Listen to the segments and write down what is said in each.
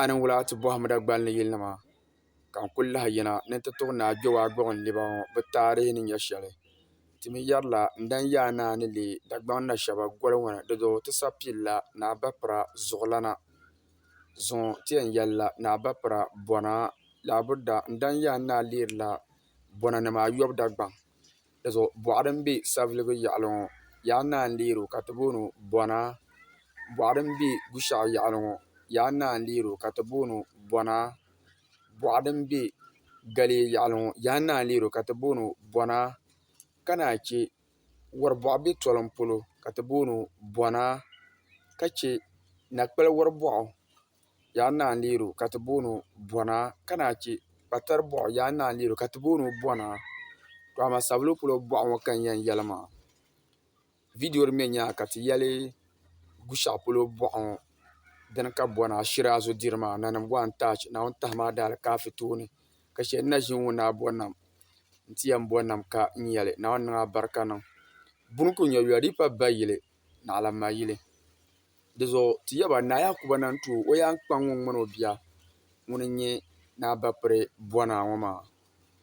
A ni wula ti bɔhim Dagbani ni yilinima ka n kuli lahi yina ni n ti tuɣi Naa Kpewaagbɔɣu n liba ŋɔ bɛ taarihi ni nyɛ shɛli. Ti mi yɛrila n-daa yi a naa ni leei Dagbaŋ Nashɛba goli ŋɔ ni di zuɣu ti sabi pilila Naa Bapira zuɣulana. Zuŋɔ ti yɛn yɛlila Naa Bapira bɔna. Lahiburida n-daa yi a ni naa leerila bɔnanima ayɔbu Dagbaŋ. Di zuɣu boɣa din bɛ savelugu yaɣali ŋo yaa naa n deeri o ka ti booni o bona boɣa din bɛ Gushaɣu yaɣali ŋo yaa naa n deeri o ka ti booni o bona boɣa din bɛ Galiɛ yaɣali ŋo yaa naa n deeri o ka ti booni o bona ka naan chɛ wori boɣa bɛ tolim polo ka ti booni o bona ka chɛ na kpali wori boɣa yaa naa n-leeri o ka ti booni o Bɔna ka naa che kpatari bɔɣu yaa naa n-leeri o ka ti booni o Bɔna to amaa sabili polo bɔɣu ŋɔ ka n yɛn yɛli maa vidiyo din be nyaaŋa ka ti yɛli Gushɛɣu polo bɔɣu ŋɔ dini ka Bɔna shiri a zo diri maa nanim gɔŋ n-taach Naawuni tahi maa daali ka afi tooni ka shɛli n na ʒini ŋɔ ni a bo nam nti yɛn bo nam ka n yɛli Naawuni niŋ a barika niŋ buni kuli nyɛ yɔlipa bayili naɣilammayili Dizuɣu ti yɛli ba, Naa Yaakuba na n-ti o yaan kpaŋ ŋun ŋmani o bia ŋun n-nyɛ Naa Bapiri Bɔnaa ŋɔ maa.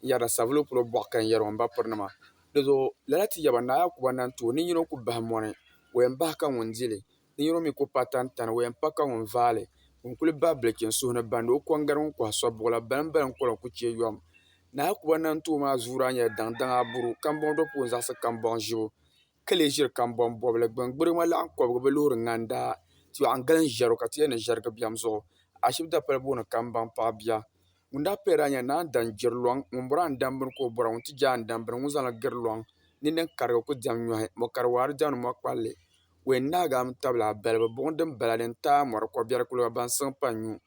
N yɛrila Savilo polo bɔɣu ka n yɛri o n bapirinima. Dizuɣu lala ti yɛli ba, Naa Yaakuba na n-ti o ninyino ku bahi mɔni, o yɛn bahi ka ŋun di li. Ninyino mi ku pa tantani, o yɛn pa ka ŋun vaai li. Ŋun kuli bahi bilichi n suhu ni bandi o kɔŋgari ŋun kɔhi sɔbibuɣu la, baliŋ baliŋ kɔla ku chɛ yom. Naa Yaakuba na n-ti o maa zuuri a nyɛla daŋdaŋ aburu, kambɔŋ dɔpuɣu n-zaɣisi kambɔŋ ʒibu. ka lee ʒiri kambɔŋ bɔbili gbini. Gbuɣima laɣim kɔbigu bɛ loori ŋanda yɔɣu n-gili n-ʒiɛri o ka ti yɛli ni ʒiɛrigu biɛm zuɣu. Ashibiti dapali booni kambaŋ paɣ bia. Ŋun daa paya daa nyɛla naan dan jiri lɔŋ. Ŋun bɔri a ni dam bini ka o bɔra. Ŋun ti je a ni dam bini ŋun zaŋli giri lɔŋ. Nini din karigi ku diɛm nyɔhi. Mɔ kari waari diɛmdi mɔ kpalli. Wɛn naagi a mi tabili a balibu. Buɣim din bala din taai a mɔri kɔbiɛri kuliga baŋsim pa n-nyu.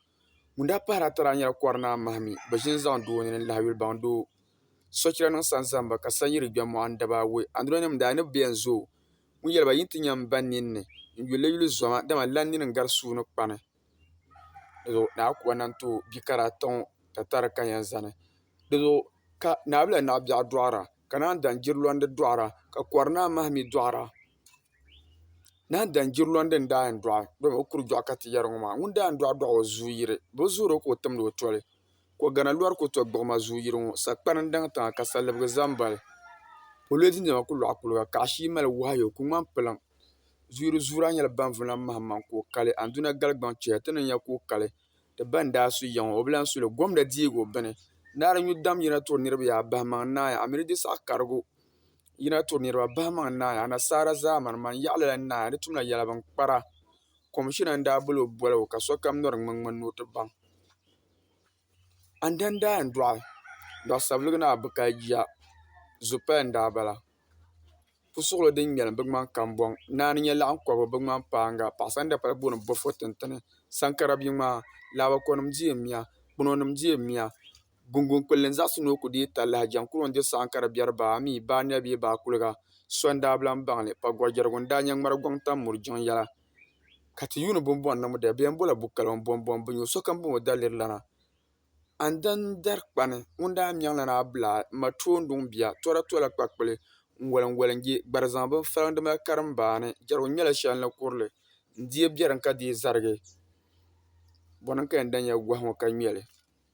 Ŋun daa pahiri ata daa nyɛla Kɔrinaa Mahimi, bɛ ʒini zaŋ doo nini n-lahiyulibaŋ doo. Sochira niŋ sanzamba ka sanyiri gbe mɔɣini daba awɔi. Anduronima daa ni bi beni zooi. Ŋun yɛli ba, Yi ni ti nya m-ba ninni n-yuli li yuli zoma, dama lan nini n-gari sua ni kpani. Di zuɣu Naa Akuba nam ti o bikara ata ŋɔ tatari ka yɛn zani. Di zuɣu ka Naawula Naɣibiɛɣu dɔɣira, ka naan daŋ Jirilɔndi dɔɣira, ka Kɔrinaa Mahimi dɔɣira. Naan daŋ jiriloŋ din daa yɛn doɣi dama o kuri doɣi ka ti yɛri ŋo maa ŋun daa yɛn doɣi doɣi o zuɣu yiri bi zuɣuri o ka o timdi o toli ko gana lori ku to gbuɣuma zuɣu yiri ŋo sagbana n daŋ tiŋa ka salibigi ʒɛ n bali polio di niɛma ku loɣi kuliga ka ashili mali wahayo o ku ŋmani piliŋ zuyiri zuɣuraa nyɛla ban vuna mahammaŋ ka o kali anduna galigbaŋ chɛya ti ni nya ka o kali ti ba n daa su yiŋ o bi lahi suli gomda deegi o bini naari nyu dam yina tiri niraba yaa bahi maŋ naai a mii di saɣa karigu yi na turi niriba bahimaŋ naai anashaara zaamani man yaɣili la naai a ni tumla yɛla bin kpara komishina n daa boli o boligu ka sokam nyɔri ŋmen ŋmen ni o ti baŋ andana daa yɛn dɔɣi dɔɣi sabiliga ni a bi kali jia zupali n daa bala pusuɣili din ŋmɛlim bi ŋmani kambɔŋ naani nyɛ laɣim kɔbu bi ŋmani paanga paɣasara ni dapala booni bofo tintini saŋkara bia ŋmaa laabako nim di yɛn miya kpɛno nim di yɛn miya Gunguŋ kpulli n zaɣisi ni o ku deei talahi jɛŋ kuro n-di saɣim ka di biɛri baa mi, baa nɛbi bee baa kuliga. So n-daa bi lan baŋ li. Pagɔrjɛrigu n-daa nyɛ ŋmari gɔŋ tam muri jiŋ yɛla. Ka ti yuuni bumbɔŋ ni mudali bɛ yɛn bol a Bukalo ni Bombom binyo. Sokam bɛ o daliri lana. Andani n-dari kpani ŋun daa mɛŋ lana Abulaa m-ma Toonduŋ bia. Tɔra tola kpakpuli n-woli n-woli n-je gbari zaŋ bini faliŋ di mali karim baa ni. Jɛrigu nyɛla shɛli ni kuri li n-deei biɛrim ka deei zarigi. Bɔ ni n-ka yɛn da nya gɔhi ŋɔ ka ŋme li.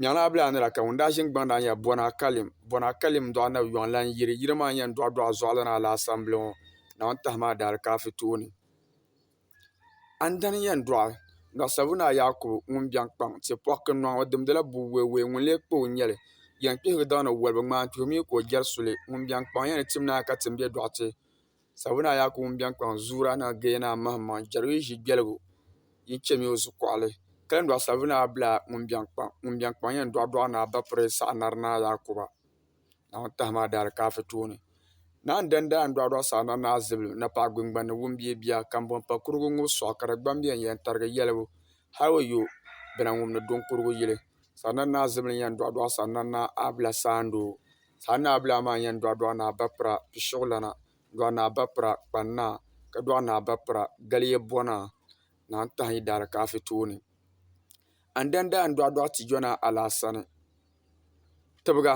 Nyɛŋla a bilaa ni la ka ŋun daa ʒini gbaŋ daa nyɛla Bɔna Kalim. Bɔna Kalim dɔɣi Nabi Yɔŋ lan yiri. Yiri maa n-yɛn dɔɣi dɔɣi Zɔɣilana Alaasambili ŋɔ na o-ni tahi maa Daalikafi tooni. A ni dani n-yɛn dɔɣi Dɔɣi Sabu Naa Yaakubu ŋun biɛŋ kpaŋ ti pɔɣi kinnɔŋ. O dimdila bua weewee ŋun lee kpao n-nyɛ li. Yɛn kpihigi daŋ ni woliba ŋmaantuhi mi ka o jɛri suli. Ŋun biɛŋ kpaŋ yɛn ni tim naai ka tim bɛ dɔɣite. Sabuna a Yaakubu n biɛŋ kpaŋ zuura ni a geei ni a mahimma n-chɛri o yi ʒi gbɛligu yi chɛmi o zukuɣili. Kalindɔɣu Sabuna a bila ŋun biɛŋ kpaŋ ŋun biɛŋ kpaŋ yɛn dɔɣi dɔɣi ni a ba piri saɣi nari ni a Yaakuba Naawuni tahima a daalikaafɛ tooni. Naa n-dandi a n-dɔɣi dɔɣi saɣi nari ni a zibilim na paɣa gbiŋgbani ni wumbiɛ bia kambɔŋ pa kurigu ŋub sɔɣi ka di gbambiɛ n yɛn tarigi yɛlibu hal o yo bina ŋub ni do n-kurigu yili saɣi nari ni a zibilim yɛn dɔɣi dɔɣi saɣi nari ni a bila saandoo. Saa Naa Bilaa maa yɛn dɔɣi dɔɣi Naa Bapira Pishiɣulana dɔɣi Naa Bapira Kpan'naa ka dɔɣi Naa Bapira Galiyɛbɔnaa Naa n-tahi yi daalikaafɛ tooni. Andanda n dɔɣi dɔɣi Tijɔnaa Alaasani Tibiga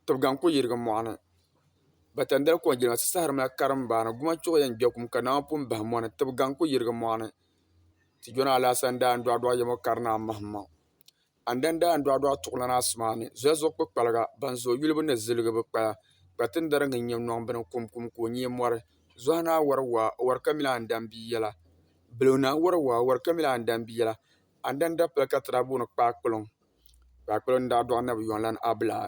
Tibiga n-kuli yirigi mɔɣu ni. Batandali kɔŋ jilima ti sahiri mali karimbaani Gumachuɣu yɛn gbɛkum ka nama pun bahi mɔni Tibiga n-kuli yirigi mɔɣu ni. Tijɔnaa Alaasani daa n dɔɣi dɔɣi Yɛmɔkarinaa Mahimaŋ Andanda n dɔɣi dɔɣi tuɣilana asimaani zolizuɣu kpukpaliga ban zooi yulibu ni ziligi bi kpaya kpatindariga n nyɛ nɔŋ bini kum kum ka o nyee mɔri zohinaa wari waa o wari ka mili andan bia yɛla bilonaa wari waa o wari ka mili andan bia yɛla andanda pili ka ti daa booni kpaakpiliŋ kpaakpiliŋ n daa dɔɣi nabi yɔnlani abilaa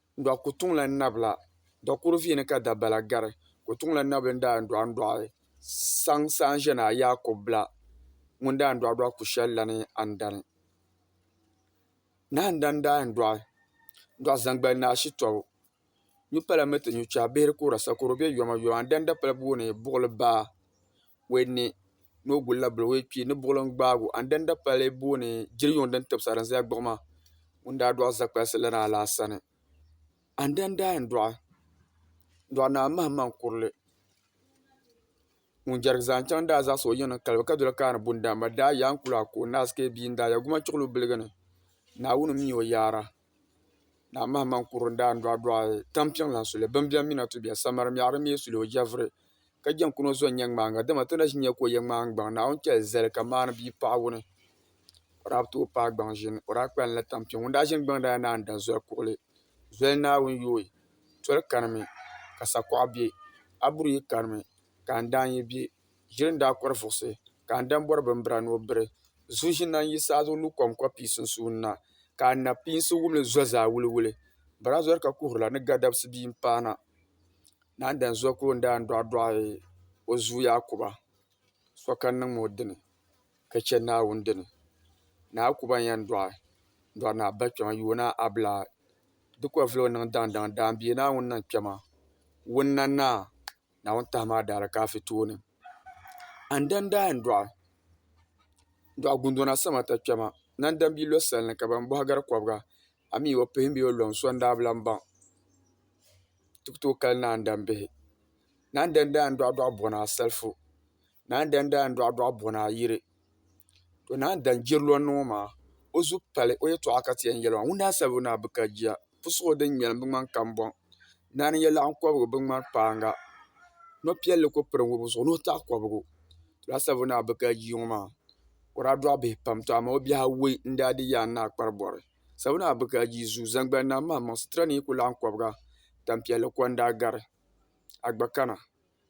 Dɔɣi ku tuŋ la nabi la, dɔɣi kuri vihi ni ka dabala gari, ku tuŋ la nabi n-daa dɔɣi n-dɔɣi saŋ saha n-ʒe ni a Yaakubu bila ŋun daa dɔɣi dɔɣi ku shɛli la ni a ni dani. Nahin dani daa yɛn dɔɣi dɔɣi zaŋgbali ni a shitɔbu. Nyu pala mi ti nyu chɛhi bihiri kuhira sakoro be yoma yoma n-dani dapala bubu ni buɣili baa. wee ni ni o guli la bini wee kpee ni buɣulim gbaagi o andana dapali booni jiri yuŋ din tibisi din zaya gbuɣuma ŋun daa dɔɣi zakpalisi lana la sani andana daa yɛn dɔɣi dɔɣi naa mahimaŋ kurili ŋun jɛrigi zaŋ chaŋ daa zaɣisi o yiŋ ni kalibu ka doli kaani bundana daa yaa n kuli a ka o naai sikee bia n daa ya gumachuɣu lu biligi ni Naawuni m mi o yaara. Naa Mahamani kuri n daan dɔɣi dɔɣi tam piŋ lan suli bini bɛn mi na ti bɛ samara mɛɣiri mi suli o jɛvuri ka jɛn kuni o zɔnnyɛ ŋmaaŋa dama ti na ʒi nyɛ ka o yɛ ŋmaaŋ gbaŋ Naawuni chɛli zali ka maani bia paɣa wuni o daa bi tooi paai gbaŋ ʒini o daa kpalim la tam piŋ ŋun daa ʒini gbaŋ daa yɛn naan da zoli kuɣili zoli Naawuni yooi toli kani mi ka sakuɣa bɛ a buri yi kani mi ka n daan yi bɛ Ʒili n daa kɔri vuɣisi, ka a dan bɔri bimbira ni o biri. Zuɣu ʒini na n-yi saha zuɣu lu kom kɔɣ pii sunsuuni na, ka a napiinsi wum li zo zaa wuliwuli. Barazɔri ka kuhirila ni Gadabsi bia m-paana. Naa n-dan zo ka o ni daa dɔɣidɔɣi o zuyu Yakuba so ka niŋ ma o dini, ka chɛ Naawuni dini. Naa Yakuba n-yɛn dɔɣi n-dɔɣi naa Bakpɛma Yoona Abilaa. Di kɔvili o niŋ daŋdaŋ daambiɛ Naawuni ni n kpɛma wunna naa. Naawuni tahi maa daara ka afi tooni an dan daa yɛn dɔɣi dɔɣi gundona sama ti kpɛma nandan bia lo salini ka ban bɔhi gari kɔbiga amii o pihimi bee o lɔŋ so n-daa bi lan baŋ ti ku tooi kali naandan bihi naandan daa yɛn dɔɣi dɔɣi bɔna asalifu naan dan daai n-dɔɣi dɔɣi bo ni a yiri. To naan dan jiri lɔnni ŋɔ maa, o zu pali o yɛtɔɣa ka ti yɛn yɛli maa, Ŋun daa sabigi ni a bi ka jia, pusuɣu din ŋmɛlim bi ŋmani kambɔŋ, naan yɛlaɣin kɔbigu bi ŋmani kpaaŋa, nɔ' piɛlli ku piri ŋubu zuɣu ni o taɣi kɔbigu. To daa sabigi ni a bi ka jia ŋɔ maa, o daa dɔɣi bihi pam, tɔ amaa o bihi awɔi n-daa di yaann ni a kpari bɔri. Sabigi ni a bi ka jia zuu, zaŋgbani ni a maŋmaŋ, situra ni yi ku laɣim kɔbiga, tampiɛlli ko n-daa gari a gba kana.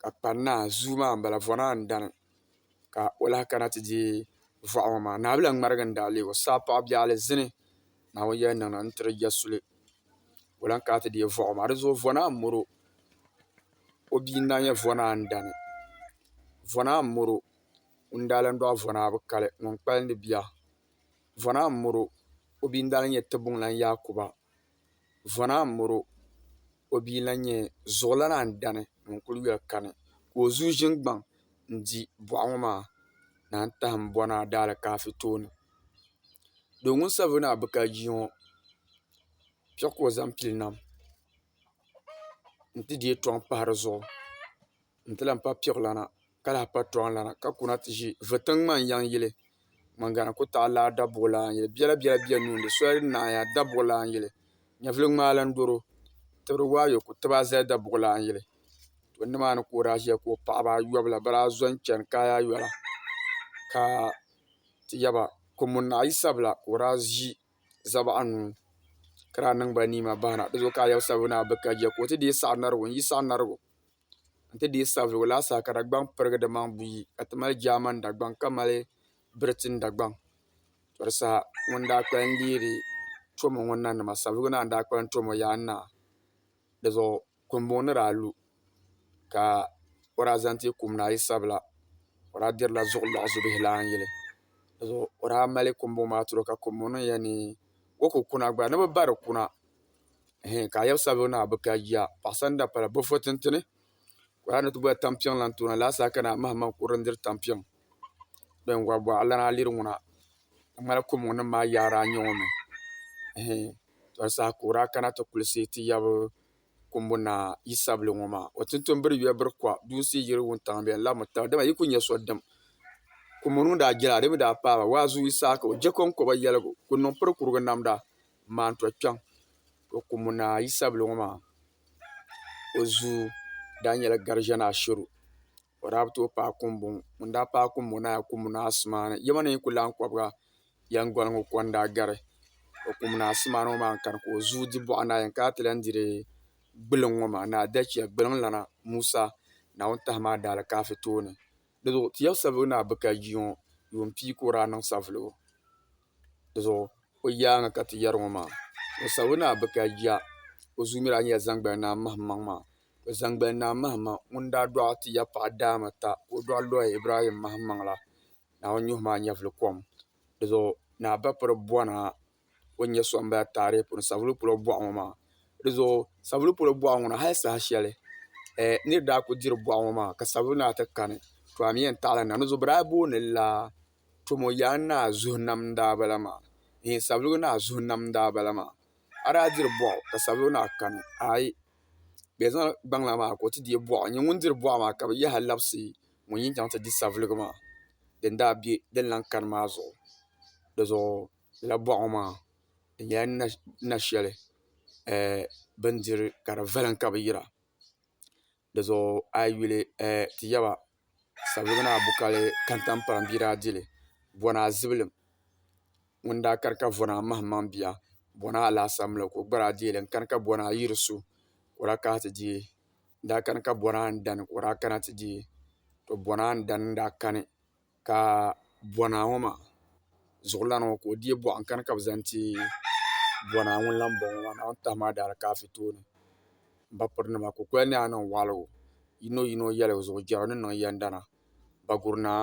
ka kpa n naa zuu maa n bala vɔ naa n dani ka o lahi kana ti deei vɔɣu ŋɔ maa naawuni lan ŋmarigi n daɣi leegi o saa paɣa biɛɣu li zini naawuni yɛli niŋ na n tiri ya suli ka o lan kana ti deei vɔɣu ŋɔ maa di zuɣu vɔ naa n mɔro o bia n daa nyɛ vɔ naa n dani vɔ naa n mɔro ŋun daa lan dɔɣi vɔ naa bi kali ŋun kpalindi bia vɔ naa n mɔro o bia n daa lan nyɛ Tibuŋlan Yaakuba vɔ naa n mɔro o bia lahi nyɛ zuɣulana n dani ŋun kuli yoli kani ka o zuɣu ʒini gbaŋ n di boɣa ŋo maa ni a ni taham bona daalaafeey tooni doo ŋun sabigi ni a bi ka ʒiya ŋo piɛɣu ka o zaŋ pili nam n ti deei tɔŋ pahi dizuɣu n ti lahi pa piɣulana ka lahi pa tɔɣulana ka kuna ti ʒi vutiŋ ŋmani yiŋ yili ŋun gana ku taɣi laa dabuɣulana n yili biɛla biɛla bɛ nuu ni soli ni naai dabuɣulana n yili nyɛvuli ŋmaai lahi doro tibiri waa ayobu ku tiba zali dabuɣulana n yili to nimaani ka o daa ʒiya ka o paɣaba ayobu la bi daa zo n chɛni kaya ayola ka ti yaba Kurumun naɣayi sabila ka o daa ʒi zabaɣa anuu ka daa niŋ ba niimabahi na dizuɣu ka a yaba sabi ni a bi ka jɛ ka o ti deei saɣa narigu n yi saɣa narigu n ti dii sabigi o laasabu ka Dagbaŋ pirigi di maŋ buyi ka ti mali Jaaman Dagbaŋ ka mali Biritin Dagbaŋ tɔri saha ŋuni n-daa kpalim n-deeri Tromo ŋɔ nanima sabigu naa n-daa kpalim Tromo yaan naa di zuɣu Kumbɔŋ ni daa lu ka o daa zaŋ ti kum ni a yi sabila o daa dirila zuɣu lɔɣu zubihi lan yili di zuɣu o daa mali Kumbɔŋ maa tiri o ka Kumbɔŋ niŋ ya ni o ku kuna gba ni bɛ bari kuna. hee ka a yaba sabigi ni a bi ka jia paɣasa ni dapala bi fo tintini ka o yaa ni ti boli tampiŋ lan tooni alahasaa ka naa mahim maŋ kurili n-diri tampiŋ bɛn wari waa alana a liri ŋuna di ŋmanila kɔmɔnim maa yaari a n-nyɛ ŋɔ mi hee tɔbu saha ka o daa kana ti kulisi ti yab kɔmbu naa yi sabigi ŋɔ maa o tinto m-biri yuya biri kuɣa duunsi yiri wuntaŋ bɛn labimi taba dama yi kuli nya so dim kɔmɔ nuu daa jɛli a di mi daa paai ba waazuyi saha ka o je kɔŋkɔba yɛligu kuli niŋ pirikurugu namda n maan to kpɛŋ to kumu ni a yisabili ŋɔ maa o zuu daa nyɛla gariʒɛ ni Asheru o daa bi tooi paai kumbɔŋɔ ŋun daa paai kumbɔŋɔ ni a yɛn kumu ni asimaani yɛma ni yi ku lahi kɔbiga yɛnguŋ ŋɔ ko n-daa gari o kumu ni asimaani ŋɔ maa n-kani ka o zuu di bɔɣu ni a yɛn kana ti lahi diri gbuluŋ ŋɔ maa ni adachia gbuluŋlana Musa Naawuni Maha daa alikafi tooni di zuɣu ti yɛlisabili ŋɔ ni a bi ka jia ŋɔ yuun pia ka o daa niŋ savuligu di zuɣu o yaaŋa ka ti yɛri ŋɔ maa o sabi ni a bi ka ya o zuyu mi daa nyɛla zaŋgbani Naa Mahimaŋ maa to zaŋgbani Naa Mahimaŋ ŋun daa dɔɣi ti ya paɣa daama ta ka o dɔɣi lɔhi Ibrahim Mahimaŋ la Naawuni nyuhi maa nyɛvili kom di zuɣu ni a ba piri bɔna o ni nyɛ so m-bala taarihi puuni Savulu polo bɔɣu ŋɔ maa di zuɣu Savulu polo bɔɣu ŋɔ na hali saha shɛli nir daa kuli diri bɔɣu ŋɔ maa ka Savulu Naa ti kani to a mi yɛn taɣila na di zuɣu bɛ daa booni la Tomo yaan naa zuhi nam n daa bala maa eeh savelugu naa zuhi nam n daa bala maa a daa diri buɣu ka savelugu naa kani aai bɛ zaŋ gbaŋ lana maa ka o ti deei buɣu n nyɛ ŋun diri buɣu maa ka bɛ yaha labisi ŋun yin chaŋ ti di savelugu maa din daa be din lahi kani maa zuɣu di zuɣu lala buɣu ŋɔ maa di nyɛla nasheli eeh bindiri ka di vilim ka bɛ yira. Dizuɣu a yi yuli ti yaba sabiga ni a bukali kantampɔra bia daa dili bɔna zibilim ŋuni daa kari ka vɔna mahim maŋ bia bɔna alaasara mi la ka o gba daa dii li n kani ka bɔna n yiri su ka o daa kana ti dii n daa kani ka bɔna n dani ka o daa kana ti dii to bɔna n dani n daa kani. ka bɔnaa ŋɔ maa zuɣulana ŋɔ ka o deei buɣa n-kani ka bɛ zaŋ ti bɔnaa ŋun lan bɔŋɔ maa naawuni tahimi a daalikaafiri tooni m ba pirinima kukoli ni a niŋ waɣiligu yinoyino yɛligu zuɣu jɛrigu ni niŋ yɛndana Baguri Naa